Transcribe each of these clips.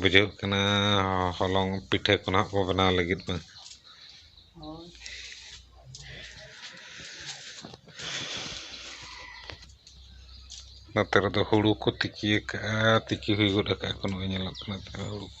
ᱵᱩᱡᱷᱟᱹᱜ ᱠᱟᱱᱟ ᱦᱚᱞᱚᱝ ᱯᱤᱴᱷᱟᱹ ᱠᱚ ᱱᱟᱜ ᱵᱚ ᱵᱮᱱᱟᱣ ᱞᱟᱹᱜᱤᱫ ᱢᱟ ᱱᱚᱛᱮ ᱨᱮᱫᱚ ᱦᱩᱲᱩ ᱠᱚ ᱛᱤᱠᱤᱭᱟᱠᱟᱜᱼᱟ ᱛᱤᱠᱤ ᱦᱩᱭ ᱜᱚᱫ ᱟᱠᱟᱜᱼᱟ ᱠᱚ ᱱᱚᱜᱼᱚᱭ ᱧᱮᱞᱚᱜ ᱠᱟᱱᱟ ᱦᱩᱲᱩ ᱠᱚ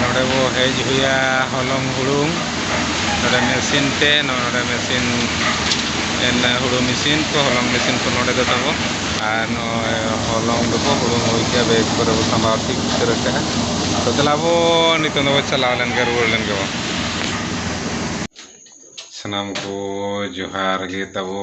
ᱱᱚᱰᱮ ᱵᱚ ᱦᱮᱡ ᱦᱩᱭᱟ ᱦᱚᱞᱚᱝ ᱦᱩᱲᱩᱝ ᱱᱚᱰᱮ ᱢᱮᱥᱤᱱ ᱛᱮ ᱱᱚᱰᱮ ᱢᱮᱥᱤᱱ ᱦᱩᱲᱩ ᱢᱮᱥᱤᱱ ᱠᱚ ᱦᱚᱞᱚᱝ ᱢᱮᱥᱤᱱ ᱠᱚ ᱱᱚᱰᱮ ᱫᱚ ᱛᱟᱵᱚ ᱟᱨ ᱱᱚᱜᱼᱚᱭ ᱦᱚᱞᱚᱝ ᱫᱚᱵᱚ ᱦᱩᱲᱩᱝ ᱦᱩᱭ ᱠᱮᱜᱼᱟ ᱵᱮᱜᱽ ᱠᱚᱨᱮ ᱵᱚ ᱥᱟᱢᱵᱟᱣ ᱴᱷᱤᱠ ᱩᱛᱟᱹᱨ ᱠᱟᱜᱼᱟ ᱛᱚ ᱫᱮᱞᱟ ᱵᱚ ᱱᱤᱛᱚᱝ ᱫᱚᱵᱚ ᱪᱟᱞᱟᱣ ᱞᱮᱱ ᱜᱮ ᱨᱩᱣᱟᱹᱲ ᱞᱮᱱ ᱜᱮᱵᱚ ᱥᱟᱱᱟᱢ ᱠᱚ ᱡᱚᱦᱟᱨ ᱜᱮ ᱛᱟᱵᱚ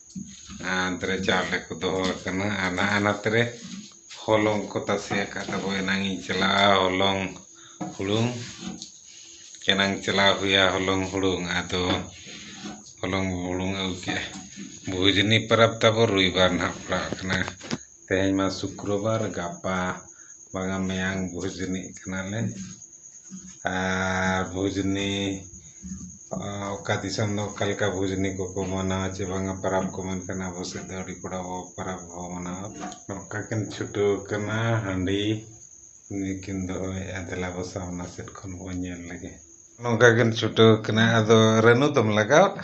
ᱟᱱᱛᱨᱮ ᱪᱟᱣᱞᱮ ᱠᱚ ᱫᱚᱦᱚ ᱟᱠᱟᱱᱟ ᱟᱨ ᱱᱟᱜ ᱟᱱᱟᱛ ᱨᱮ ᱦᱚᱞᱚᱝ ᱠᱚ ᱛᱟᱥᱮ ᱟᱠᱟᱫ ᱛᱟᱠᱚ ᱮᱱᱟᱝ ᱤᱧ ᱪᱟᱞᱟᱜᱼᱟ ᱦᱚᱞᱚᱝ ᱦᱩᱲᱩᱝ ᱮᱱᱟᱝ ᱪᱟᱞᱟᱣ ᱦᱩᱭᱟ ᱦᱚᱞᱚᱝ ᱦᱩᱲᱩᱝ ᱟᱫᱚ ᱦᱚᱞᱚᱝ ᱦᱩᱲᱩᱝ ᱟᱹᱜᱩ ᱠᱮᱫᱼᱟ ᱵᱷᱩᱡᱽᱱᱤ ᱯᱚᱨᱚᱵᱽ ᱛᱟᱵᱚ ᱨᱚᱵᱤᱵᱟᱨ ᱱᱟᱜ ᱯᱟᱲᱟᱜ ᱠᱟᱱᱟ ᱛᱮᱦᱮᱧ ᱢᱟ ᱥᱩᱠᱨᱚᱵᱟᱨ ᱜᱟᱯᱟ ᱵᱟᱝᱟ ᱢᱮᱭᱟᱝ ᱵᱷᱚᱡᱽᱱᱤᱜ ᱠᱟᱱᱟᱞᱮ ᱟᱨ ᱵᱷᱚᱡᱽᱱᱤ ᱚᱠᱟ ᱫᱤᱥᱚᱢ ᱫᱚ ᱚᱠᱟ ᱞᱮᱠᱟ ᱵᱷᱚᱡᱽᱱᱤ ᱠᱚᱠᱚ ᱢᱟᱱᱟᱣᱟ ᱪᱮ ᱵᱟᱝᱟ ᱯᱟᱨᱟᱵᱽ ᱠᱚ ᱢᱮᱱᱠᱷᱟᱱ ᱟᱵᱚ ᱥᱮᱫ ᱫᱚ ᱟᱹᱰᱤ ᱠᱚᱲᱟ ᱵᱚ ᱯᱟᱨᱟᱵᱽ ᱵᱚ ᱢᱟᱱᱟᱣᱟ ᱱᱚᱝᱠᱟ ᱠᱤᱱ ᱪᱷᱩᱴᱟᱹᱣ ᱠᱟᱱᱟ ᱦᱟᱺᱰᱤ ᱩᱱᱤ ᱠᱤᱱ ᱫᱚᱦᱚᱭᱮᱜᱼᱟ ᱫᱮᱞᱟ ᱵᱚ ᱥᱟᱢᱱᱟ ᱥᱮᱫ ᱠᱷᱚᱱ ᱵᱚᱱ ᱧᱮᱞ ᱞᱮᱜᱮ ᱱᱚᱝᱠᱟ ᱠᱤᱱ ᱪᱷᱩᱴᱟᱹᱣ ᱠᱟᱱᱟ ᱟᱫᱚ ᱨᱟᱹᱱᱩ ᱫᱚᱢ ᱞᱟᱜᱟᱣᱟᱜᱼᱟ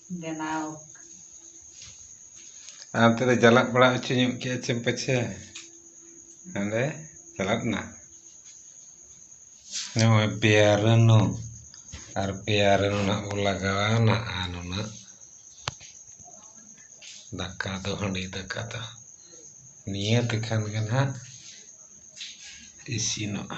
ᱵᱮᱱᱟᱣ ᱟᱨ ᱚᱱᱛᱮ ᱫᱚ ᱪᱟᱞᱟᱜ ᱵᱟᱲᱟ ᱦᱚᱪᱚ ᱧᱚᱜ ᱠᱮᱫᱼᱟ ᱪᱮᱢ ᱯᱟᱪᱷᱮ ᱚᱸᱰᱮ ᱪᱟᱞᱟᱜ ᱱᱟ ᱱᱚᱜᱼᱚᱭ ᱯᱮᱭᱟᱨᱟᱱᱩ ᱟᱨ ᱯᱮᱭᱟᱨᱟᱱᱩ ᱱᱟᱜ ᱵᱚ ᱞᱟᱜᱟᱣᱟ ᱱᱟᱜ ᱟᱨ ᱱᱩᱱᱟᱹᱜ ᱫᱟᱠᱟ ᱫᱚ ᱦᱟᱺᱰᱤ ᱫᱟᱠᱟ ᱫᱚ ᱱᱤᱭᱟᱹ ᱛᱮᱠᱷᱟᱱ ᱜᱮ ᱱᱟᱜ ᱤᱥᱤᱱᱚᱜᱼᱟ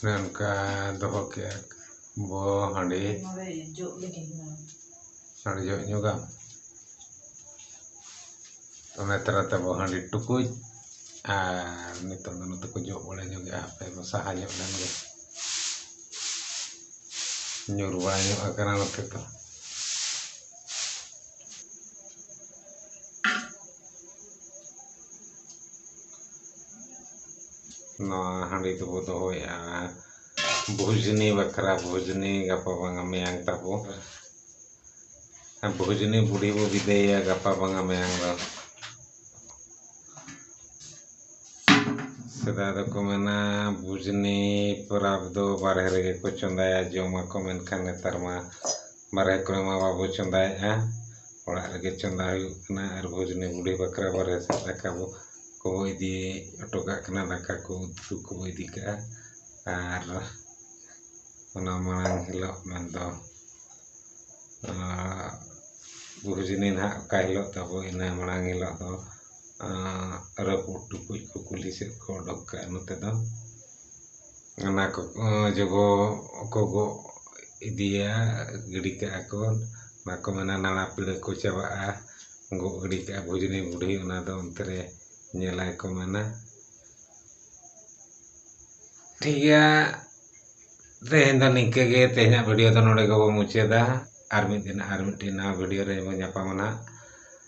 ᱚᱱᱮ ᱚᱱᱠᱟ ᱫᱚᱦᱚ ᱠᱮᱜᱼᱟ ᱵᱚ ᱦᱟᱺᱰᱤ ᱦᱟᱺᱰᱤ ᱡᱚᱜ ᱧᱩᱣᱟᱢ ᱚᱱᱟ ᱛᱟᱞᱟ ᱛᱮᱵᱚ ᱦᱟᱺᱰᱤ ᱴᱩᱠᱩᱡ ᱟᱨ ᱱᱤᱛᱚᱜ ᱫᱚ ᱱᱚᱛᱮ ᱠᱚ ᱡᱚᱜ ᱵᱟᱲᱟ ᱧᱚᱜᱮᱜᱼᱟ ᱦᱟᱯᱮ ᱵᱚ ᱥᱟᱦᱟ ᱧᱚᱜ ᱞᱮᱱ ᱜᱮ ᱧᱩᱨ ᱵᱟᱲᱟ ᱧᱚᱜ ᱟᱠᱟᱱᱟ ᱱᱚᱛᱮ ᱫᱚ ᱱᱚᱣᱟ ᱦᱟᱺᱰᱤ ᱫᱚᱵᱚ ᱫᱚᱦᱚᱭᱮᱜᱼᱟ ᱵᱷᱩᱡᱽᱱᱤ ᱵᱟᱠᱷᱨᱟ ᱵᱷᱩᱡᱽᱱᱤ ᱜᱟᱯᱟ ᱵᱟᱝᱟ ᱢᱮᱭᱟᱝ ᱛᱟᱵᱚ ᱵᱷᱩᱡᱽᱱᱤ ᱵᱩᱰᱷᱤ ᱵᱚ ᱵᱤᱫᱟᱹᱭᱮᱭᱟ ᱜᱟᱯᱟ ᱵᱟᱝᱟ ᱢᱮᱭᱟᱝ ᱫᱚ ᱥᱮᱫᱟᱭ ᱫᱚᱠᱚ ᱢᱮᱱᱟ ᱵᱷᱩᱡᱽᱱᱤ ᱯᱚᱨᱚᱵᱽ ᱫᱚ ᱵᱟᱨᱦᱮ ᱨᱮᱜᱮ ᱠᱚ ᱪᱚᱸᱫᱟᱭᱟ ᱡᱚᱢᱟᱠᱚ ᱢᱮᱱᱠᱷᱟᱱ ᱱᱮᱛᱟᱨ ᱢᱟ ᱵᱟᱨᱦᱮ ᱠᱚᱨᱮ ᱢᱟ ᱵᱟᱵᱚ ᱪᱚᱸᱫᱟᱭᱮᱜᱼᱟ ᱚᱲᱟᱜ ᱨᱮᱜᱮ ᱪᱚᱸᱫᱟ ᱦᱩᱭᱩᱜ ᱠᱟᱱᱟ ᱟᱨ ᱵᱷᱚᱡᱽᱱᱤ ᱵᱩᱰᱷᱤ ᱵᱟᱠᱷᱨᱟ ᱵᱟᱨᱦᱮ ᱥᱮᱫ ᱫᱟᱠᱟ ᱵᱚ ᱠᱚ ᱤᱫᱤ ᱦᱚᱴᱚ ᱠᱟᱜ ᱠᱟᱱᱟ ᱫᱟᱠᱟ ᱠᱚ ᱩᱛᱩ ᱠᱚ ᱤᱫᱤ ᱠᱟᱜᱼᱟ ᱟᱨ ᱚᱱᱟ ᱢᱟᱲᱟᱝ ᱦᱤᱞᱳᱜ ᱢᱮᱱ ᱫᱚ ᱵᱷᱚᱡᱽᱱᱤ ᱱᱟᱦᱟᱜ ᱚᱠᱟ ᱦᱤᱞᱳᱜ ᱛᱟᱵᱚ ᱤᱱᱟᱹ ᱢᱟᱲᱟᱝ ᱦᱤᱞᱳᱜ ᱫᱚ ᱨᱟᱹᱯᱩᱫ ᱴᱩᱠᱩᱡ ᱠᱚ ᱠᱩᱞᱦᱤ ᱥᱮᱫ ᱠᱚ ᱚᱰᱚᱠ ᱠᱟᱜᱼᱟ ᱱᱚᱛᱮ ᱫᱚ ᱚᱱᱟ ᱠᱚ ᱡᱚᱜᱚ ᱠᱚ ᱜᱚᱜ ᱤᱫᱤᱭᱟ ᱜᱤᱰᱤ ᱠᱟᱜᱼᱟ ᱠᱚ ᱚᱱᱟ ᱠᱚ ᱢᱮᱱᱟ ᱱᱟᱲᱟ ᱯᱤᱲᱟᱹ ᱠᱚ ᱪᱟᱵᱟᱜᱼᱟ ᱜᱚᱜ ᱜᱤᱰᱤ ᱠᱟᱜᱼᱟ ᱵᱷᱩᱡᱽᱱᱤ ᱵᱩᱰᱷᱤ ᱚᱱᱟ ᱫᱚ ᱚᱱᱛᱮ ᱨᱮ ᱧᱮᱞᱟᱭ ᱠᱚ ᱢᱮᱱᱟ ᱴᱷᱤᱠ ᱜᱮᱭᱟ ᱛᱮᱦᱮᱧ ᱫᱚ ᱱᱤᱝᱠᱟᱹ ᱜᱮ ᱛᱮᱦᱮᱧᱟᱜ ᱵᱷᱤᱰᱤᱭᱳ ᱫᱚ ᱱᱚᱰᱮ ᱜᱮᱵᱚᱱ ᱢᱩᱪᱟᱹᱫᱟ ᱟᱨ ᱢᱤᱫ ᱫᱤᱱ ᱟᱨ ᱢᱤᱫᱴᱤᱱ ᱱᱟᱣᱟ ᱵᱷᱤᱰᱤᱭᱳ ᱨᱮᱵᱚᱱ ᱧᱟᱯᱟᱢᱟ ᱱᱟᱦᱟᱜ